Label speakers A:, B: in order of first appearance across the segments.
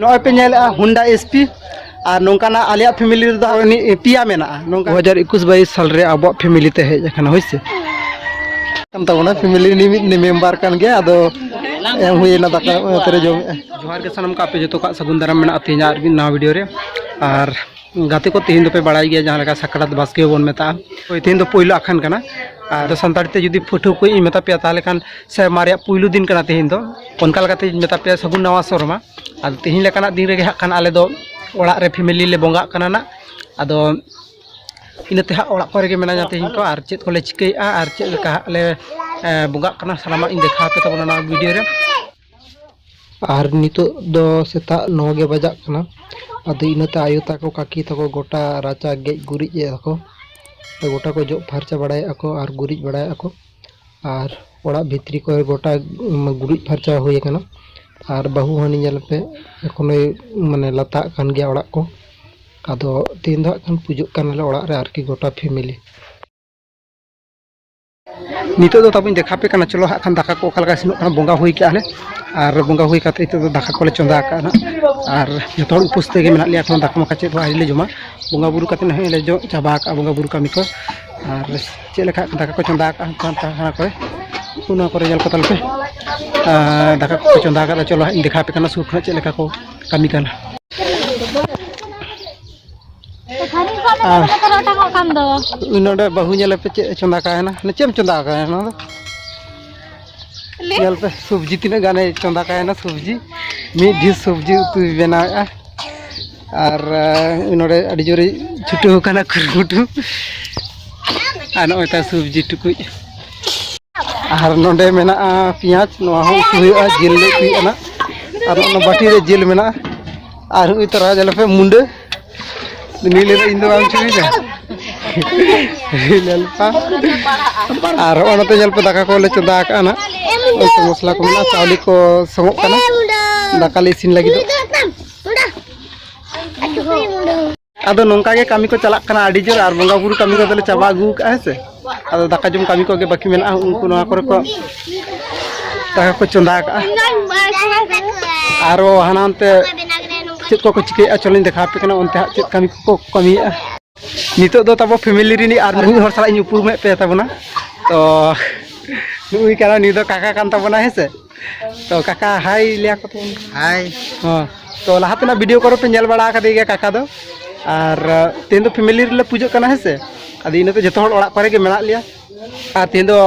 A: ᱱᱚᱜᱼᱚᱭ ᱯᱮ ᱧᱮᱞᱮᱜᱼᱟ ᱦᱩᱱᱰᱟ ᱮᱥᱯᱤ ᱟᱨ ᱱᱚᱝᱠᱟᱱᱟᱜ ᱟᱞᱮᱭᱟᱜ ᱯᱷᱮᱢᱤᱞᱤ ᱨᱮᱫᱚ ᱯᱮᱭᱟ ᱢᱮᱱᱟᱜᱼᱟ ᱱᱚᱝᱠᱟ ᱫᱩ ᱦᱟᱡᱟᱨ ᱮᱠᱩᱥ ᱵᱟᱭᱤᱥ ᱥᱟᱞ ᱨᱮ ᱟᱵᱚᱣᱟᱜ ᱯᱷᱮᱢᱤᱞᱤ ᱛᱮ ᱦᱮᱡ ᱟᱠᱟᱱᱟ ᱦᱳᱭ ᱥᱮ ᱠᱟᱱ ᱛᱟᱵᱚᱱᱟ ᱯᱷᱮᱢᱤᱞᱤ ᱩᱱᱤ ᱢᱤᱫ ᱢᱮᱢᱵᱟᱨ ᱠᱟᱱ ᱜᱮᱭᱟ ᱟᱫᱚ ᱮᱢ ᱦᱩᱭᱮᱱᱟ ᱫᱟᱠᱟ ᱚᱱᱟᱛᱮᱞᱮ ᱡᱚᱢᱮᱜᱼᱟ ᱡᱚᱦᱟᱨ ᱜᱮ ᱥᱟᱱᱟᱢ ᱠᱚ ᱟᱯᱮ ᱡᱚᱛᱚ ᱠᱚᱣᱟᱜ ᱥᱟᱹᱜᱩᱱ ᱫᱟᱨᱟᱢ ᱢᱮᱱᱟᱜᱼᱟ ᱛᱮᱦᱮᱧᱟᱜ ᱟᱨ ᱢᱤᱫ ᱱᱟᱣᱟ ᱵᱷᱤᱰᱤᱭᱳ ᱨᱮ ᱟᱨ ᱜᱟᱛᱮ ᱠᱚ ᱛᱮᱦᱮᱧ ᱫᱚᱯᱮ ᱵᱟᱲᱟᱭ ᱜᱮᱭᱟ ᱡᱟᱦᱟᱸ ᱞᱮᱠᱟ ᱥᱟᱠᱨᱟᱛ ᱵᱟᱥᱠᱮ ᱵᱚᱱ ᱢᱮᱛᱟᱜᱼᱟ ᱦᱳᱭ ᱛᱮᱦᱮᱧ ᱫᱚ ᱯᱳᱭᱞᱳ ᱟᱠᱷᱟᱱ ᱠᱟᱱᱟ ᱟᱫᱚ ᱥᱟᱱᱛᱟᱲ ᱛᱮ ᱡᱩᱫᱤ ᱯᱟᱹᱴᱷᱩᱣᱟᱹ ᱠᱚ ᱤᱧ ᱢᱮᱛᱟ ᱯᱮᱭᱟ ᱛᱟᱦᱚᱞᱮ ᱠᱷᱟᱱ ᱥᱮᱨᱢᱟ ᱨᱮᱭᱟᱜ ᱯᱳᱭᱞᱳ ᱫᱤᱱ ᱠᱟᱱᱟ ᱛᱮᱦᱮᱧ ᱫᱚ ᱚᱱᱠᱟ ᱞᱮᱠᱟᱛᱮ ᱤᱧ ᱢᱮᱛᱟ ᱯᱮᱭᱟ ᱥᱟᱹᱜᱩᱱ ᱱᱟᱣᱟ ᱥᱮᱨᱢᱟ ᱟᱫᱚ ᱛᱮᱦᱮᱧ ᱞᱮᱠᱟᱱᱟᱜ ᱫᱤᱱ ᱨᱮᱜᱮ ᱦᱟᱸᱜ ᱠᱷᱟᱱ ᱟᱞᱮ ᱫᱚ ᱚᱲᱟᱜ ᱨᱮ ᱯᱷᱮᱢᱮᱞᱤ ᱞᱮ ᱵᱚᱸᱜᱟᱜ ᱠᱟᱱᱟ ᱱᱟᱜ ᱟᱫᱚ ᱤᱱᱟᱹᱛᱮ ᱦᱟᱸᱜ ᱚᱲᱟᱜ ᱠᱚᱨᱮ ᱜᱮ ᱢᱮᱱᱟᱧᱟ ᱛᱮᱦᱮᱧ ᱠᱚ ᱟᱨ ᱪᱮᱫ ᱠᱚᱞᱮ ᱪᱤᱠᱟᱹᱭᱮᱫᱼᱟ ᱟᱨ ᱪᱮᱫ ᱞᱮᱠᱟ ᱦᱟᱸᱜ ᱞᱮ ᱵᱚᱸᱜᱟᱜ ᱠᱟᱱᱟ ᱥᱟᱱᱟᱢᱟᱜ ᱤᱧ ᱫᱮᱠᱷᱟᱣ ᱟᱯᱮ ᱛᱟᱵᱚᱱᱟ ᱱᱚᱣᱟ ᱵᱷᱤᱰᱤᱭᱳ ᱨᱮ ᱟᱨ ᱱᱤᱛᱚᱜ ᱫᱚ ᱥᱮᱛᱟᱜ ᱱᱚ ᱜᱮ ᱵᱟᱡᱟᱜ ᱠᱟᱱᱟ ᱟᱫᱚ ᱤᱱᱟᱹᱛᱮ ᱟᱭᱳ ᱛᱟᱠᱚ ᱠᱟᱹᱠᱤ ᱛᱟᱠᱚ ᱜᱚᱴᱟ ᱨᱟᱪᱟ ᱜᱮᱡ ᱜᱩᱨᱤᱡ ᱮᱫᱟ ᱠᱚ ᱜᱚᱴᱟ ᱠᱚ ᱡᱚᱜ ᱯᱷᱟᱨᱪᱟ ᱵᱟᱲᱟᱭᱮᱫᱼᱟ ᱠᱚ ᱟᱨ ᱜᱩᱨᱤᱡ ᱵᱟᱲᱟᱭᱮᱫᱼᱟ ᱠᱚ ᱟᱨ ᱚᱲᱟᱜ ᱵᱷᱤᱛᱨᱤ ᱠᱚᱨᱮ ᱜᱚᱴᱟ ᱜᱩᱨᱤᱡ ᱯᱷᱟᱨᱪᱟ ᱦᱩᱭ ᱟᱠᱟᱱᱟ ᱟᱨ ᱵᱟᱹᱦᱩ ᱦᱟᱹᱱᱤ ᱧᱮᱞ ᱯᱮ ᱮᱠᱷᱚᱱᱳᱭ ᱢᱟᱱᱮ ᱞᱟᱛᱟᱜ ᱠᱟᱱ ᱜᱮᱭᱟ ᱚᱲᱟᱜ ᱠᱚ ᱟᱫᱚ ᱛᱮᱦᱮᱧ ᱫᱚ ᱦᱟᱸᱜ ᱠᱷᱟᱱ ᱯᱩᱡᱟᱹᱜ ᱠᱟᱱᱟᱞᱮ ᱚᱲᱟᱜ ᱨᱮ ᱟᱨᱠᱤ ᱜᱚᱴᱟ ᱯᱷᱮᱢᱮᱞᱤ ᱱᱤᱛᱚᱜ ᱫᱚ ᱛᱟᱵᱚᱧ ᱫᱮᱠᱷᱟ ᱯᱮ ᱠᱟᱱᱟ ᱪᱚᱞᱚ ᱦᱟᱸᱜ ᱠᱷᱟᱱ ᱫᱟᱠᱟ ᱠᱚ ᱚᱠᱟ ᱞᱮᱠᱟ ᱤᱥᱤᱱᱚᱜ ᱠᱟᱱᱟ ᱵᱚᱸᱜᱟ ᱦᱩᱭ ᱠᱟᱜᱼᱟ ᱞᱮ ᱟᱨ ᱵᱚᱸᱜᱟ ᱦᱩᱭ ᱠᱟᱛᱮ ᱱᱤᱛᱚᱜ ᱫᱚ ᱫᱟᱠᱟ ᱠᱚᱞᱮ ᱪᱚᱸᱫᱟ ᱟᱠᱟᱫᱼᱟ ᱱᱟᱜ ᱟᱨ ᱡᱚᱛᱚ ᱦᱚᱲ ᱩᱯᱟᱹᱥ ᱛᱮᱜᱮ ᱢᱮᱱᱟᱜ ᱞᱮᱭᱟ ᱮᱠᱷᱚᱱ ᱫᱟᱠᱟ ᱢᱟᱠᱟ ᱪᱮᱫ ᱦᱚᱸ ᱟᱹᱣᱨᱤ ᱞᱮ ᱡᱚᱢᱟ ᱵᱚᱸᱜᱟ ᱵᱩᱨᱩ ᱠᱟᱛᱮ ᱱᱟᱦᱟᱜ ᱞᱮ ᱡᱚᱢ ᱪᱟᱵᱟ ᱟᱠᱟᱫᱼᱟ ᱵᱚᱸᱜᱟ ᱵᱩᱨᱩ ᱠᱟᱹᱢᱤ ᱠᱚ ᱟᱨ ᱪᱮᱫ ᱞᱮᱠᱟ ᱫᱟᱠᱟ ᱠᱚ ᱪᱚᱸᱫᱟ ᱟᱠᱟᱫᱼᱟ ᱛᱟᱦᱟᱱᱟ ᱠᱚᱨᱮ ᱚᱱᱟ ᱠᱚᱨᱮ ᱧᱮᱞ ᱠᱚ ᱛᱟᱞᱮ ᱯᱮ ᱫᱟᱠᱟ ᱠᱚ ᱪᱚᱸᱫᱟ ᱟᱠᱟᱫᱼᱟ ᱪᱚᱞᱚ ᱦᱟᱸᱜ ᱤᱧ ᱫᱮᱠᱷᱟ ᱯᱮ ᱠᱟᱱᱟ ᱥᱩᱨ ᱠᱷᱚᱱᱟᱜ ᱪᱮᱫ ᱞᱮᱠᱟ ᱠᱚ ᱠᱟᱹᱢᱤ ᱠᱟᱱᱟ ᱱᱚᱰᱮ ᱵᱟᱹᱦᱩ ᱧᱮᱞ ᱯᱮ ᱪᱮᱫ ᱪᱚᱸᱫᱟ ᱠᱟᱭᱮᱱᱟ ᱪᱮᱫ ᱮᱢ ᱪᱚᱸᱫᱟ ᱠᱟᱭᱮᱱᱟ ᱱᱚᱣᱟ ᱫᱚ ᱧᱮᱞ ᱯᱮ ᱥᱚᱵᱽᱡᱤ ᱛᱤᱱᱟᱹᱜ ᱜᱟᱱᱮ ᱪᱚᱸᱫᱟ ᱠᱟᱭᱮᱱᱟ ᱥᱚᱵᱽᱡᱤ ᱢᱤᱫ ᱰᱷᱤᱥ ᱥᱚᱵᱽᱡᱤ ᱩᱛᱩᱭ ᱵᱮᱱᱟᱣᱮᱫᱼᱟ ᱟᱨ ᱱᱚᱰᱮ ᱟᱹᱰᱤ ᱡᱳᱨᱮ ᱪᱷᱩᱴᱟᱹᱣ ᱟᱠᱟᱱᱟ ᱠᱩᱨᱩᱢᱩᱴᱩ ᱟᱨ ᱱᱚᱜᱼᱚᱭ ᱛᱟᱭ ᱥᱚᱵᱽᱡᱤ ᱴᱩᱠᱩᱡ ᱟᱨ ᱱᱚᱰᱮ ᱢᱮᱱᱟᱜᱼᱟ ᱯᱮᱸᱭᱟᱡᱽ ᱱᱚᱣᱟ ᱦᱚᱸ ᱩᱛᱩ ᱦᱩᱭᱩᱜᱼᱟ ᱡᱤᱞ ᱞᱮ ᱩᱛᱩᱭᱮᱫᱼᱟ ᱟᱨ ᱚᱱᱟ ᱵᱟᱹᱴᱤ ᱨᱮ ᱡᱤᱞ ᱢᱮᱱᱟᱜᱼᱟ ᱟᱨ ᱦᱩᱭ ᱛᱚᱨᱟ ᱡᱟᱞᱯᱮ ᱢᱩᱸᱰᱟᱹ ᱱᱤᱞᱮ ᱤᱧ ᱫᱚ ᱵᱟᱝ ᱪᱩᱭᱫᱟ ᱧᱮᱞᱯᱟ ᱟᱨ ᱦᱚᱸᱜᱼᱚ ᱱᱚᱛᱮ ᱧᱮᱞᱯᱮ ᱫᱟᱠᱟ ᱠᱚᱞᱮ ᱪᱚᱸᱫᱟ ᱟᱠᱟᱜᱼᱟ ᱱᱟᱜ ᱩᱛᱩ ᱢᱚᱥᱞᱟ ᱠᱚ ᱢᱮᱱᱟᱜᱼᱟ ᱪᱟᱣᱞᱮ ᱠᱚ ᱥᱚᱝᱚᱜ ᱠᱟᱱᱟ ᱫᱟᱠᱟ ᱞᱮ ᱤᱥᱤᱱ ᱞᱟᱹᱜᱤᱫᱚᱜ ᱟᱫᱚ ᱱᱚᱝᱠᱟ ᱜᱮ ᱠᱟᱹᱢᱤ ᱠᱚ ᱪᱟᱞᱟᱜ ᱠᱟᱱᱟ ᱟᱹᱰᱤ ᱡᱳᱨ ᱟᱨ ᱵᱚᱸᱜᱟ ᱵᱩᱨᱩ ᱠᱟᱹᱢᱤ ᱠᱚᱫᱚᱞᱮ ᱪᱟᱵᱟ ᱟᱹᱜᱩ ᱠᱟᱜᱼᱟ ᱦᱮᱸ ᱥᱮ ᱟᱫᱚ ᱫᱟᱠᱟ ᱡᱚᱢ ᱠᱟᱹᱢᱤ ᱠᱚᱜᱮ ᱵᱟᱹᱠᱤ ᱢᱮᱱᱟᱜᱼᱟ ᱩᱱᱠᱩ ᱱᱚᱣᱟ ᱠᱚᱨᱮ ᱠᱚ ᱫᱟᱠᱟ ᱠᱚ ᱪᱚᱸᱫᱟ ᱠᱟᱜᱼᱟ ᱟᱨᱚ ᱦᱟᱱᱟ ᱦᱟᱱᱛᱮ ᱪᱮᱫ ᱠᱚᱠᱚ ᱪᱤᱠᱟᱹᱭᱮᱫᱼᱟ ᱪᱚᱞᱚᱧ ᱫᱮᱠᱷᱟᱣ ᱟᱯᱮ ᱠᱟᱱᱟ ᱚᱱᱛᱮ ᱦᱟᱸᱜ ᱪᱮᱫ ᱠᱟᱹᱢᱤ ᱠᱚᱠᱚ ᱠᱟᱹᱢᱤᱭᱮᱫᱼᱟ ᱱᱤᱛᱚᱜ ᱫᱚ ᱛᱟᱵᱚ ᱯᱷᱮᱢᱮᱞᱤ ᱨᱤᱱᱤᱡ ᱟᱨ ᱢᱤᱫ ᱦᱚᱲ ᱥᱟᱞᱟᱜ ᱤᱧ ᱩᱯᱨᱩᱢᱮᱫ ᱯᱮ ᱛᱟᱵᱚᱱᱟ ᱛᱚ ᱱᱩᱭ ᱠᱟᱱᱟ ᱱᱩᱭ ᱫᱚ ᱠᱟᱠᱟ ᱠᱟᱱ ᱛᱟᱵᱚᱱᱟ ᱦᱮᱸ ᱥᱮ ᱛᱚ ᱠᱟᱠᱟ ᱦᱟᱭ ᱞᱟᱹᱭᱟ ᱠᱚ ᱛᱟᱵᱚᱱ ᱦᱟᱭ ᱦᱚᱸ ᱛᱚ ᱞᱟᱦᱟ ᱛᱮᱱᱟᱜ ᱵᱷᱤᱰᱤᱭᱳ ᱠᱚᱨᱮ ᱯᱮ ᱧᱮᱞ ᱵᱟᱲᱟ ᱟᱠᱟᱫᱮ ᱜᱮᱭᱟ ᱠᱟᱠᱟ ᱫᱚ ᱟᱨ ᱛᱮᱦᱮᱧ ᱫᱚ ᱯᱷᱮᱢᱮᱞᱤ ᱨᱮᱞᱮ ᱯᱩᱡᱟᱹᱜ ᱠᱟᱱᱟ ᱦᱮᱸ ᱥᱮ ᱟᱫᱚ ᱤᱱᱟᱹ ᱛᱮ ᱡᱚᱛᱚ ᱦᱚᱲ ᱚᱲᱟᱜ ᱠᱚᱨᱮ ᱜᱮ ᱢᱮᱱᱟᱜ ᱞᱮᱭᱟ ᱟᱨ ᱛᱮᱦᱮᱧ ᱫᱚ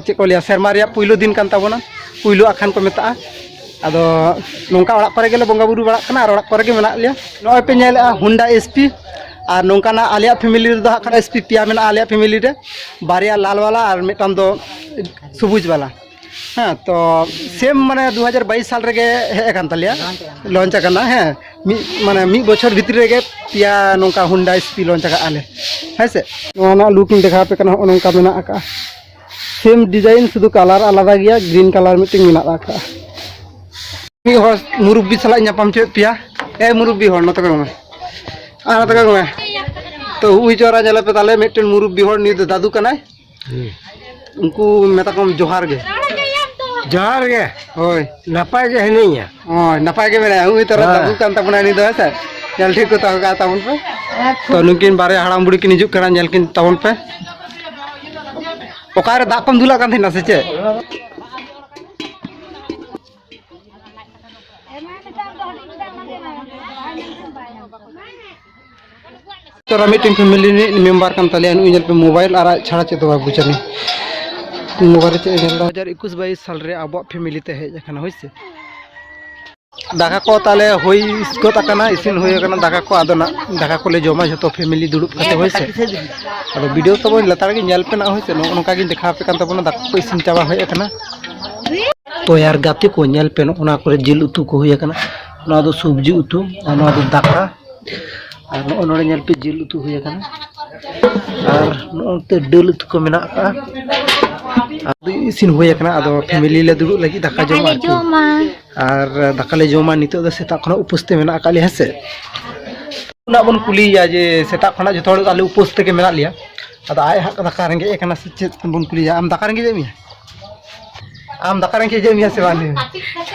A: ᱪᱮᱫ ᱠᱚ ᱞᱟᱹᱭᱟ ᱥᱮᱨᱢᱟ ᱨᱮᱭᱟᱜ ᱯᱩᱭᱞᱩ ᱫᱤᱱ ᱠᱟᱱ ᱛᱟᱵᱚᱱᱟ ᱯᱩᱭᱞᱩ ᱟᱠᱷᱟᱱ ᱠᱚ ᱢᱮᱛᱟᱜᱼᱟ ᱟᱫᱚ ᱱᱚᱝᱠᱟ ᱚᱲᱟᱜ ᱠᱚᱨᱮ ᱜᱮᱞᱮ ᱵᱚᱸᱜᱟ ᱵᱩᱨᱩ ᱵᱟᱲᱟᱜ ᱠᱟᱱᱟ ᱟᱨ ᱚᱲᱟᱜ ᱠᱚᱨᱮ ᱜᱮ ᱢᱮᱱᱟᱜ ᱞᱮᱭᱟ ᱱᱚᱜᱼᱚᱭ ᱯᱮ ᱧᱮᱞᱮᱜᱼᱟ ᱦᱩᱱᱰᱟ ᱮᱥᱯᱤ ᱟᱨ ᱱᱚᱝᱠᱟᱱᱟᱜ ᱟᱞᱮᱭᱟᱜ ᱯᱷᱮᱢᱮᱞᱤ ᱨᱮᱫᱚ ᱦᱟᱸᱜ ᱠᱷᱟᱱ ᱮᱥᱯᱤ ᱯᱮᱭᱟ ᱢᱮᱱᱟᱜᱼᱟ ᱟᱞᱮᱭᱟᱜ ᱯᱷᱮᱢᱮᱞᱤ ᱨᱮ ᱵᱟᱨᱭᱟ ᱞᱟᱞ ᱵᱟᱞᱟ ᱟᱨ ᱢᱤᱫᱴᱟᱝ ᱫᱚ ᱥᱩᱵᱩᱡᱽ ᱵᱟᱞᱟ ᱦᱮᱸ ᱛᱚ ᱥᱮᱢ ᱢᱟᱱᱮ ᱫᱩ ᱦᱟᱡᱟᱨ ᱵᱟᱭᱤᱥ ᱥᱟᱞ ᱨᱮᱜᱮ ᱦᱮᱡ ᱟᱠᱟᱱ ᱛᱟᱞᱮᱭᱟ ᱞᱚᱱᱪ ᱟᱠᱟᱱᱟ ᱦᱮᱸ ᱢᱤᱫ ᱢᱟᱱᱮ ᱢᱤᱫ ᱵᱚᱪᱷᱚᱨ ᱵᱷᱤᱛᱨᱤ ᱨᱮᱜᱮ ᱯᱮᱭᱟ ᱱᱚᱝᱠᱟ ᱦᱳᱱᱰᱟ ᱮᱥᱯᱤ ᱞᱚᱱᱪ ᱟᱠᱟᱫ ᱟᱞᱮ ᱦᱮᱸ ᱥᱮ ᱱᱚᱣᱟ ᱨᱮᱱᱟᱜ ᱞᱩᱠ ᱤᱧ ᱫᱮᱠᱷᱟᱣ ᱟᱯᱮ ᱠᱟᱱᱟ ᱱᱚᱜᱼᱚ ᱱᱚᱝᱠᱟ ᱢᱮᱱᱟᱜ ᱟᱠᱟᱫᱼᱟ ᱥᱮᱢ ᱰᱤᱡᱟᱭᱤᱱ ᱥᱩᱫᱷᱩ ᱠᱟᱞᱟᱨ ᱟᱞᱟᱫᱟ ᱜᱮᱭᱟ ᱜᱨᱤᱱ ᱠᱟᱞᱟᱨ ᱢᱤᱫᱴᱮᱱ ᱢᱮᱱᱟᱜ ᱟᱠᱟᱫᱼᱟ ᱢᱤᱫ ᱦᱚᱲ ᱢᱩᱨᱩᱵᱵᱤ ᱥᱟᱞᱟᱜ ᱤᱧ ᱧᱟᱯᱟᱢ ᱦᱚᱪᱚᱭᱮᱫ ᱯᱮᱭᱟ ᱮ ᱢᱩᱨᱩᱵᱵᱤ ᱦᱚᱲ ᱱᱚᱛᱮ ᱠᱚ ᱢᱮ ᱟᱨ ᱱᱚᱛᱮ ᱠᱚ ᱢᱮ ᱛᱚ ᱦᱩᱭ ᱪᱚᱨᱟ ᱧᱮᱞᱮᱯᱮ ᱛᱟᱦᱚᱞᱮ ᱢᱤᱫᱴᱮᱱ ᱢᱩᱨᱩᱵᱵᱤ ᱦᱚᱲ ᱱᱩᱭ ᱫᱚ ᱫᱟᱫᱩ ᱠᱟᱱᱟᱭ ᱩᱱᱠᱩ ᱢᱮᱛᱟ ᱠᱚᱢ ᱡᱚᱦᱟᱨ ᱜᱮ ᱡᱚᱦᱟᱨ ᱜᱮ ᱦᱳᱭ ᱱᱟᱯᱟᱭ ᱜᱮ ᱦᱤᱱᱟᱹᱧᱟ ᱦᱳᱭ ᱱᱟᱯᱟᱭ ᱜᱮ ᱢᱮᱱᱟᱭᱟ ᱩᱱᱤ ᱛᱚᱨᱟ ᱫᱟᱫᱩ ᱠᱟᱱ ᱛᱟᱵᱚᱱᱟ ᱩᱱᱤ ᱫᱚ ᱦᱮᱸ ᱥᱮ ᱧᱮᱞ ᱴᱷᱤᱠ ᱠᱚ ᱛᱟᱦᱮᱸ ᱠᱟᱜ ᱛᱟᱵᱚᱱ ᱯᱮ ᱛᱚ ᱱᱩᱠᱤᱱ ᱵᱟᱨᱭᱟ ᱦᱟᱲᱟᱢ ᱵᱩᱲᱦᱤ ᱠᱤᱱ ᱦᱤᱡᱩᱜ ᱠᱟᱱᱟ ᱧᱮᱞ ᱠᱤᱱ ᱛᱟᱵᱚᱱ ᱯᱮ ᱚᱠᱟᱨᱮ ᱫᱟᱜ ᱠᱚᱢ ᱫᱩᱞᱟᱜ ᱠᱟᱱ ᱛᱟᱦᱮᱱᱟ ᱥᱮ ᱪᱮᱫ ᱛᱚᱨᱟ ᱢᱤᱫᱴᱮᱱ ᱯᱷᱮᱢᱮᱞᱤ ᱨᱤᱱᱤᱡ ᱢᱮᱢᱵᱟᱨ ᱠᱟᱱ ᱛᱟᱞᱮᱭᱟ ᱱᱩᱭ ᱧᱮᱞ ᱯᱮ ᱢᱳᱵᱟᱭᱤᱞ ᱟᱨ ᱟᱡ ᱪᱷᱟᱲᱟ ᱪᱮᱫ ᱫᱚ ᱵᱟᱭ ᱵᱩᱡᱷᱟᱹᱣ ᱢᱳᱵᱟᱭᱤᱞ ᱪᱮᱫ ᱧᱮᱞ ᱫᱟ ᱦᱟᱡᱟᱨ ᱮᱠᱩᱥ ᱵᱟᱭᱤᱥ ᱥᱟᱞ ᱨᱮ ᱟᱵᱚᱣᱟᱜ ᱯᱷᱮᱢᱮᱞᱤ ᱛᱮ ᱦᱮᱡ ᱟᱠᱟᱱᱟ ᱦᱳᱭ ᱥᱮ ᱫᱟᱠᱟ ᱠᱚ ᱛᱟᱦᱞᱮ ᱦᱩᱭ ᱜᱚᱫ ᱟᱠᱟᱱᱟ ᱤᱥᱤᱱ ᱦᱩᱭ ᱟᱠᱟᱱᱟ ᱫᱟᱠᱟ ᱠᱚ ᱟᱫᱚ ᱱᱟᱜ ᱫᱟᱠᱟ ᱠᱚᱞᱮ ᱡᱚᱢᱟ ᱡᱷᱚᱛᱚ ᱯᱷᱮᱢᱮᱞᱤ ᱫᱩᱲᱩᱵ ᱠᱟᱛᱮ ᱦᱳᱭ ᱥᱮ ᱟᱫᱚ ᱵᱷᱤᱰᱤᱭᱳ ᱛᱟᱵᱚᱱ ᱞᱟᱛᱟᱨ ᱜᱮ ᱧᱮᱞ ᱯᱮ ᱱᱟᱜ ᱦᱳᱭ ᱥᱮ ᱱᱚᱜᱼᱚ ᱱᱚᱝᱠᱟ ᱜᱤᱧ ᱫᱮᱠᱷᱟᱣ ᱟᱯᱮ ᱠᱟᱱ ᱛᱟᱵᱚᱱᱟ ᱫᱟᱠᱟ ᱠᱚ ᱤᱥᱤᱱ ᱪᱟᱵᱟ ᱦᱮᱡ ᱟᱠᱟᱱᱟ ᱛᱚᱭᱟᱨ ᱜᱟᱛᱮ ᱠᱚ ᱧᱮᱞ ᱯᱮ ᱱᱚᱜᱼᱚ ᱱᱚᱣᱟ ᱠᱚᱨᱮ ᱡᱤᱞ ᱩᱛᱩ ᱠᱚ ᱦᱩᱭ ᱟᱠᱟᱱᱟ ᱱᱚᱣᱟ ᱫᱚ ᱥᱚᱵᱽᱡᱤ ᱩᱛᱩ ᱟᱨ ᱱᱚᱣᱟ ᱫᱚ ᱫᱟᱠᱟ ᱟᱨ ᱱᱚᱜᱼᱚᱭ ᱱᱚᱰᱮ ᱧᱮᱞ ᱯᱮ ᱡᱤᱞ ᱩᱛᱩ ᱦᱩᱭ ᱟᱠᱟᱱᱟ ᱟᱨ ᱱᱚᱜᱼᱚᱱᱛᱮ ᱰᱟᱹᱞ ᱩᱛᱩ ᱠᱚ ᱢᱮᱱᱟᱜ ᱟᱠᱟᱫᱼᱟ ᱟᱫᱚ ᱤᱥᱤᱱ ᱦᱩᱭ ᱟᱠᱟᱱᱟ ᱟᱫᱚ ᱯᱷᱮᱢᱮᱞᱤ ᱞᱮ ᱫᱩᱲᱩᱵ ᱞᱟᱹᱜᱤᱫ ᱫᱟᱠᱟ ᱡᱚᱢ ᱟᱨᱠᱤ ᱟᱨ ᱫᱟᱠᱟ ᱞᱮ ᱡᱚᱢᱟ ᱱᱤᱛᱚᱜ ᱫᱚ ᱥᱮᱛᱟᱜ ᱠᱷᱚᱱᱟᱜ ᱩᱯᱟᱹᱥ ᱛᱮ ᱢᱮᱱᱟᱜ ᱟᱠᱟᱫ ᱞᱮᱭᱟ ᱦᱮᱸ ᱥᱮ ᱚᱱᱟ ᱵᱚᱱ ᱠᱩᱞᱤᱭᱮᱭᱟ ᱡᱮ ᱥᱮᱛᱟᱜ ᱠᱷᱚᱱᱟᱜ ᱡᱚᱛᱚ ᱦᱚᱲ ᱟᱞᱮ ᱩᱯᱟᱹᱥ ᱛᱮᱜᱮ ᱢᱮᱱᱟᱜ ᱞᱮᱭᱟ ᱟᱫᱚ ᱟᱡ ᱦᱟᱸᱜ ᱫᱟᱠᱟ ᱨᱮᱸᱜᱮᱡ ᱮ ᱠᱟᱱᱟ ᱥᱮ ᱪᱮᱫ ᱵᱚᱱ ᱠᱩᱞᱤᱭᱮᱭᱟ ᱟᱢ ᱫᱟᱠᱟ ᱨᱮᱸᱜᱮᱡ ᱮᱫ ᱢᱮᱭᱟ ᱟᱢ ᱫᱟᱠᱟ ᱨᱮᱸᱜᱮᱡ ᱮᱫ ᱢᱮᱭᱟ ᱥᱮ ᱵᱟᱝ ᱞᱟᱹᱭ ᱢᱮ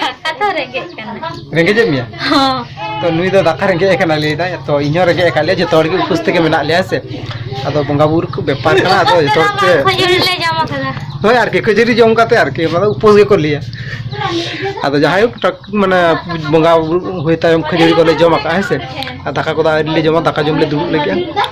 A: ᱫᱟᱠᱟ ᱫᱚ ᱨᱮᱸᱜᱮᱡ ᱠᱟᱱᱟ ᱨᱮᱸᱜᱮᱡ ᱮᱫ ᱢᱮᱭᱟ ᱦᱚᱸ ᱛᱚ ᱱᱩᱭ ᱫᱚ ᱫᱟᱠᱟ ᱨᱮᱸᱜᱮᱡ ᱟᱠᱟᱱᱟ ᱞᱟᱹᱭ ᱮᱫᱟᱭ ᱛᱚ ᱤᱧ ᱦᱚᱸ ᱨᱮᱸᱜᱮᱡ ᱟᱠᱟᱫ ᱞᱮᱭᱟ ᱡᱚᱛᱚ ᱦᱚᱲ ᱜᱮ ᱩᱯᱟᱹᱥ ᱛᱮᱜᱮ ᱢᱮᱱᱟᱜ ᱞᱮᱭᱟ ᱥᱮ ᱟᱫᱚ ᱵᱚᱸᱜᱟ ᱵᱩᱨᱩ ᱠᱚ ᱵᱮᱯᱟᱨ ᱠᱟᱱᱟ ᱟᱫᱚ ᱡᱚᱛᱚ ᱦᱚᱲ ᱛᱮ ᱠᱷᱟᱹᱡᱟᱹᱲᱤ ᱞᱮ ᱡᱚᱢ ᱟᱠᱟᱫᱟ ᱦᱳᱭ ᱟᱨᱠᱤ ᱠᱷᱟᱹᱡᱟᱹᱲᱤ ᱡᱚᱢ ᱠᱟᱛᱮ ᱟᱨᱠᱤ ᱚᱱᱟ ᱫᱚ ᱩᱯᱟᱹᱥ ᱜᱮᱠᱚ ᱞᱟᱹᱭᱟ ᱟᱫᱚ ᱡᱟᱦᱟᱸᱭ ᱦᱳᱠ ᱴᱟᱠ ᱢᱟᱱᱮ ᱵᱚᱸᱜᱟ ᱵᱩᱨᱩ ᱦᱩᱭ ᱛᱟᱭᱚᱢ ᱠᱷᱟᱹᱡᱟᱹᱲᱤ ᱠᱚᱞᱮ ᱡᱚᱢ ᱟᱠᱟᱫᱼᱟ ᱦᱮᱸ ᱥᱮ ᱟᱨ ᱫᱟᱠᱟ ᱠᱚᱫᱚ ᱟᱹᱣᱨᱤ ᱞᱮ ᱡᱚᱢᱟ ᱫᱟᱠᱟ ᱡᱚᱢ ᱞᱮ ᱫᱩᱲᱩᱵ ᱞᱟᱹᱜᱤᱫᱼᱟ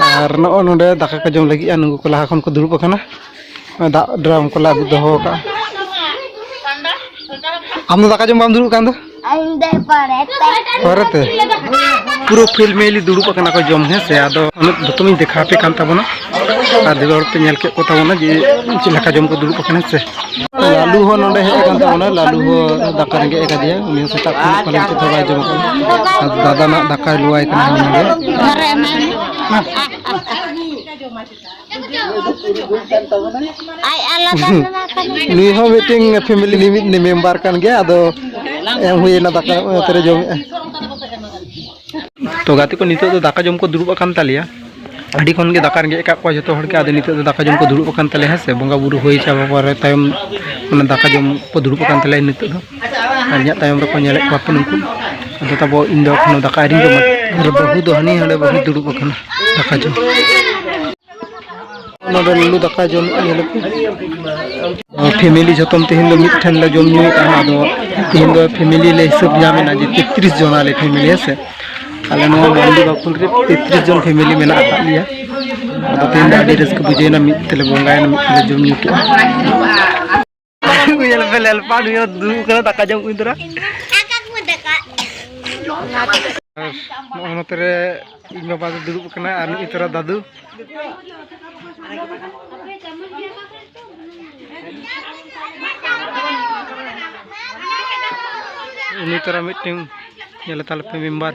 A: ᱟᱨ ᱱᱚᱜᱼᱚ ᱱᱚᱰᱮ ᱫᱟᱠᱟ ᱠᱚ ᱡᱚᱢ ᱞᱟᱹᱜᱤᱫᱼᱟ ᱱᱩᱠᱩ ᱠᱚ ᱞᱟᱦᱟ ᱠᱷᱚᱱ ᱠᱚ ᱫᱩᱲᱩᱵ ᱟᱠᱟᱱᱟ ᱫᱟᱜ ᱰᱨᱟᱢ ᱠᱚᱞᱮ ᱟᱹᱜᱩ ᱫᱚᱦᱚ ᱟᱠᱟᱫᱼᱟ ᱟᱢ ᱫᱚ ᱫᱟᱠᱟ ᱡᱚᱢ ᱵᱟᱢ ᱫᱩᱲᱩᱵ ᱠᱟᱱ ᱫᱚ ᱯᱚᱨᱮᱛᱮ ᱯᱩᱨᱟᱹ ᱯᱷᱮᱢᱮᱞᱤ ᱫᱩᱲᱩᱵ ᱟᱠᱟᱱᱟ ᱠᱚ ᱡᱚᱢ ᱦᱮᱸ ᱥᱮ ᱟᱫᱚ ᱩᱱᱟᱹᱜ ᱡᱚᱛᱚᱢ ᱤᱧ ᱫᱮᱠᱷᱟᱣ ᱟᱯᱮ ᱠᱟᱱ ᱛᱟᱵᱚᱱᱟ ᱟᱨ ᱫᱤᱞ ᱦᱚᱲ ᱯᱮ ᱧᱮᱞ ᱠᱮᱫ ᱠᱚ ᱛᱟᱵᱚᱱᱟ ᱡᱮ ᱪᱮᱫ ᱞᱮᱠᱟ ᱡᱚᱢ ᱠᱚ ᱫᱩᱲᱩᱵ ᱟᱠᱟᱱᱟ ᱥᱮ ᱞᱟᱞᱩ ᱦᱚᱸ ᱱᱚᱰᱮ ᱦᱮᱡ ᱟᱠᱟᱱ ᱛᱟᱵᱚᱱᱟ ᱞᱟᱞᱩ ᱦᱚᱸ ᱫᱟᱠᱟ ᱨᱮᱸᱜᱮᱡ ᱟᱠᱟᱫᱮᱭᱟ ᱩᱱᱤ ᱦᱚᱸ ᱥᱮᱛᱟᱜ ᱠᱷᱚᱱ ᱯᱟᱞᱮ ᱱᱤᱛᱚᱜ ᱫᱚ ᱵᱟᱭ ᱡᱚᱢ ᱟᱠᱟᱫᱟ ᱟᱨ ᱫᱟᱫᱟ ᱱᱟᱜ ᱫᱟᱠᱟᱭ ᱞᱩᱣᱟᱭ ᱠᱟᱱᱟ ᱱᱚᱰᱮ ᱱᱩᱭ ᱦᱚᱸ ᱢᱤᱫᱴᱮᱱ ᱯᱷᱮᱢᱤᱞᱤ ᱨᱤᱱᱤᱡ ᱢᱮᱢᱵᱟᱨ ᱠᱟᱱ ᱜᱮᱭᱟ ᱟᱫᱚ ᱮᱢ ᱦᱩᱭᱮᱱᱟ ᱫᱟᱠᱟ ᱚᱱᱟᱛᱮ ᱡᱚᱢᱮᱜᱼᱟ ᱛᱚ ᱜᱟᱛᱮ ᱠᱚ ᱱᱤᱛᱚᱜ ᱫᱚ ᱫᱟᱠᱟ ᱡᱚᱢ ᱠᱚ ᱫᱩᱲᱩᱵ ᱟᱠᱟᱱ ᱛᱟᱞᱮᱭᱟ ᱟᱹᱰᱤ ᱠᱷᱚᱱ ᱜᱮ ᱫᱟᱠᱟ ᱨᱮᱸᱜᱮᱡ ᱟᱠᱟᱫ ᱠᱚᱣᱟ ᱡᱚᱛᱚ ᱦᱚᱲ ᱜᱮ ᱟᱫᱚ ᱱᱤᱛᱚᱜ ᱫᱚ ᱫᱟᱠᱟ ᱡᱚᱢ ᱠᱚ ᱫᱩᱲᱩᱵ ᱟᱠᱟᱱ ᱛᱟᱞᱮᱭᱟ ᱦᱮᱸ ᱥᱮ ᱵᱚᱸᱜᱟ ᱵᱩᱨᱩ ᱦᱩᱭ ᱪᱟᱵᱟ ᱯᱚᱨᱮ ᱛᱟᱭᱚᱢ ᱚᱱᱟ ᱫᱟᱠᱟ ᱡᱚᱢ ᱠᱚ ᱫᱩᱲᱩᱵ ᱟᱠᱟᱱ ᱛᱟᱞᱮᱭᱟ ᱱᱤᱛᱚᱜ ᱫᱚ ᱟᱨ ᱤᱧᱟᱹᱜ ᱛᱟᱭᱚᱢ ᱨᱮᱠᱚ ᱧᱮᱞᱮᱫ ᱠᱚᱣᱟ ᱯᱮ ᱱᱩᱠᱩ ᱟᱫᱚ ᱛᱟᱵᱚ ᱤᱧ ᱫᱚ ᱮᱠᱷᱚᱱ ᱫᱟᱠᱟ ᱟᱹᱣᱨᱤᱧ ᱡᱚᱢᱟ ᱟᱨ ᱵᱟᱹᱦᱩ ᱫᱚ ᱦᱟᱹᱱᱤ ᱦᱟᱸᱰᱮ ᱵᱟᱹᱦᱩ ᱫᱩᱲᱩᱵ ᱟᱠᱟᱱᱟ ᱫᱟᱠᱟ ᱡᱚᱢ ᱱᱚᱰᱮ ᱞᱩᱞᱩ ᱫᱟᱠᱟ ᱡᱚᱢ ᱧᱮᱞ ᱯᱷᱮᱢᱮᱞᱤ ᱡᱚᱛᱚᱢ ᱛᱮᱦᱮᱧ ᱫᱚ ᱢᱤᱫ ᱴᱷᱮᱱ ᱞᱮ ᱡᱚᱢ ᱧᱩᱭᱮᱫᱼᱟ ᱟᱫᱚ ᱛᱮᱦᱮᱧ ᱫᱚ ᱯᱷᱮᱢᱮᱞᱤ ᱞᱮ ᱦᱤᱥᱟᱹᱵ ᱧᱟᱢᱮᱱᱟ ᱡᱮ ᱛᱮᱛᱨᱤᱥ ᱡᱚᱱ ᱟᱞᱮ ᱯᱷᱮᱢᱮᱞᱤ ᱦᱮᱸ ᱥᱮ ᱟᱞᱮ ᱱᱚᱣᱟ ᱢᱟᱱᱰᱤ ᱵᱟᱠᱩᱞ ᱨᱮ ᱛᱮᱛᱨᱤᱥ ᱡᱚᱱ ᱯᱷᱮᱢᱮᱞᱤ ᱢᱮᱱᱟᱜ ᱟᱠᱟᱫ ᱞᱮᱭᱟ ᱟᱫᱚ ᱛᱮᱦᱮᱧ ᱫᱚ ᱟᱹᱰᱤ ᱨᱟᱹᱥᱠᱟᱹ ᱵᱩᱡᱷᱟᱹᱣᱮᱱᱟ ᱢᱤᱫ ᱛᱮᱞᱮ ᱵᱚᱸᱜᱟᱭᱮᱱᱟ ᱢᱤᱫ ᱛᱮᱞᱮ ᱡᱚᱢ ᱧᱩ ᱠᱮᱫᱼᱟ ᱧᱮᱞ ᱯᱮ ᱞᱮᱞᱯᱟ ᱱᱩᱭ ᱦᱚᱸ ᱫᱩᱲᱩᱵ ᱠᱟᱱᱟ ᱫᱟᱠᱟ ᱡᱚᱢ ᱠᱩᱧ ᱛᱚᱨᱟ ᱱᱚᱜᱼᱚ ᱱᱚᱛᱮ ᱨᱮ ᱤᱧ ᱵᱟᱵᱟ ᱫᱚ ᱫᱩᱲᱩᱵ ᱠᱟᱱᱟ ᱟᱨ ᱱᱩᱭ ᱛᱚᱨᱟ ᱫᱟᱫᱩ ᱩᱱᱤ ᱛᱚᱨᱟ ᱢᱤᱫᱴᱮᱱ ᱧᱮᱞ ᱛᱟᱞᱮ ᱯᱮ ᱢᱮᱢᱵᱟᱨ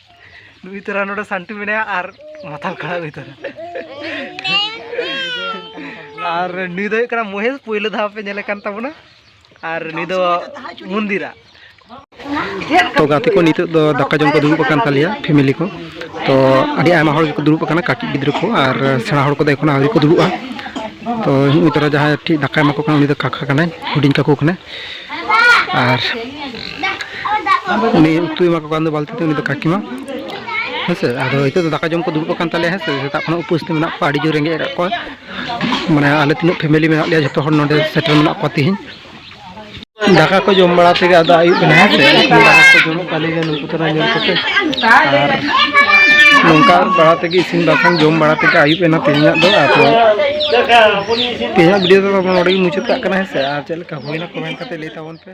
A: ᱱᱩᱭ ᱛᱚᱨᱟ ᱱᱚᱰᱮ ᱥᱟᱱᱴᱩ ᱢᱮᱱᱟᱭᱟ ᱟᱨ ᱢᱟᱛᱟᱞ ᱠᱟᱲᱟ ᱱᱩᱭ ᱛᱚᱨᱟ ᱟᱨ ᱱᱩᱭ ᱫᱚ ᱦᱩᱭᱩᱜ ᱠᱟᱱᱟ ᱢᱚᱦᱮᱥ ᱯᱳᱭᱞᱳ ᱫᱷᱟᱣ ᱯᱮ ᱧᱮᱞᱮ ᱠᱟᱱ ᱛᱟᱵᱚᱱᱟ ᱟᱨ ᱱᱩᱭ ᱫᱚ ᱢᱚᱱᱫᱤᱨᱟ ᱛᱚ ᱜᱟᱛᱮ ᱠᱚ ᱱᱤᱛᱚᱜ ᱫᱚ ᱫᱟᱠᱟ ᱡᱚᱢ ᱠᱚ ᱫᱩᱲᱩᱵ ᱟᱠᱟᱱ ᱛᱟᱞᱮᱭᱟ ᱯᱷᱮᱢᱮᱞᱤ ᱠᱚ ᱛᱚ ᱟᱹᱰᱤ ᱟᱭᱢᱟ ᱦᱚᱲ ᱜᱮᱠᱚ ᱫᱩᱲᱩᱵ ᱟᱠᱟᱱᱟ ᱠᱟᱹᱴᱤᱡ ᱜᱤᱫᱽᱨᱟᱹ ᱠᱚ ᱟᱨ ᱥᱮᱬᱟ ᱦᱚᱲ ᱠᱚᱫᱚ ᱮᱠᱷᱚᱱ ᱟᱹᱣᱨᱤ ᱠᱚ ᱫᱩᱲᱩᱵᱼᱟ ᱛᱚ ᱱᱩᱭ ᱛᱚᱨᱟ ᱡᱟᱦᱟᱸᱭ ᱴᱷᱤᱠ ᱫᱟᱠᱟᱭ ᱮᱢᱟ ᱠᱚ ᱠᱟᱱᱟ ᱩᱱᱤ ᱫᱚ ᱠᱟᱠᱟ ᱠᱟᱱᱟᱭ ᱦᱩᱰᱤᱧ ᱠᱟᱠᱩ ᱠᱟᱱᱟᱭ ᱟᱨ ᱩᱱᱤ ᱩᱛᱩᱭ ᱮᱢᱟ ᱠᱚ ᱠᱟᱱ ᱫᱚ ᱵᱟᱹᱞᱛᱤ ᱛᱮ ᱩᱱᱤ ᱫᱚ ᱠᱟᱹᱠᱤᱢᱟ ᱦᱮᱸ ᱥᱮ ᱟᱫᱚ ᱱᱤᱛᱚᱜ ᱫᱚ ᱫᱟᱠᱟ ᱡᱚᱢ ᱠᱚ ᱫᱩᱲᱩᱵ ᱟᱠᱟᱱ ᱛᱟᱞᱮᱭᱟ ᱦᱮᱸ ᱥᱮ ᱥᱮᱛᱟᱜ ᱠᱷᱚᱱᱟᱜ ᱩᱯᱟᱹᱥ ᱛᱮ ᱢᱮᱱᱟᱜ ᱠᱚᱣᱟ ᱟᱹᱰᱤ ᱡᱳᱨ ᱨᱮᱸᱜᱮᱡ ᱟᱠᱟᱫ ᱠᱚᱣᱟ ᱢᱟᱱᱮ ᱟᱞᱮ ᱛᱤᱱᱟᱹᱜ ᱯᱷᱮᱢᱮᱞᱤ ᱢᱮᱱᱟᱜ ᱞᱮᱭᱟ ᱡᱚᱛᱚ ᱦᱚᱲ ᱱᱚᱰᱮ ᱥᱮᱴᱮᱨ ᱢᱮᱱᱟᱜ ᱠᱚᱣᱟ ᱛᱤᱦᱤᱧ ᱫᱟᱠᱟ ᱠᱚ ᱡᱚᱢ ᱵᱟᱲᱟ ᱛᱮᱜᱮ ᱟᱫᱚ ᱟᱹᱭᱩᱵ ᱮᱱᱟ ᱦᱮᱸ ᱥᱮ ᱫᱟᱠᱟ ᱠᱚ ᱡᱚᱢᱚᱜ ᱠᱟᱱ ᱜᱮᱭᱟ ᱱᱩᱠᱩ ᱛᱟᱨᱟ ᱧᱮᱞ ᱠᱟᱛᱮ ᱟᱨ ᱱᱚᱝᱠᱟ ᱵᱟᱲᱟ ᱛᱮᱜᱮ ᱤᱥᱤᱱ ᱵᱟᱥᱟᱝ ᱡᱚᱢ ᱵᱟᱲᱟ ᱛᱮᱜᱮ ᱟᱹᱭᱩᱵ ᱮᱱᱟ ᱛᱮᱦᱮᱧᱟᱜ ᱫᱚ ᱟᱫᱚ ᱛᱮᱦᱮᱧᱟᱜ ᱵᱷᱤᱰᱤᱭᱳ ᱫᱚ ᱱᱚᱰᱮ ᱜᱮ ᱢᱩᱪᱟᱹᱫ ᱠᱟᱜ ᱠᱟᱱᱟ ᱦᱮᱸ ᱥᱮ ᱟᱨ ᱪᱮᱫ ᱞᱮᱠᱟ ᱦᱩᱭᱱᱟ ᱠᱚᱢᱮᱱᱴ ᱠᱟᱛᱮ ᱞᱟᱹᱭ ᱛᱟᱵᱚᱱ ᱯᱮ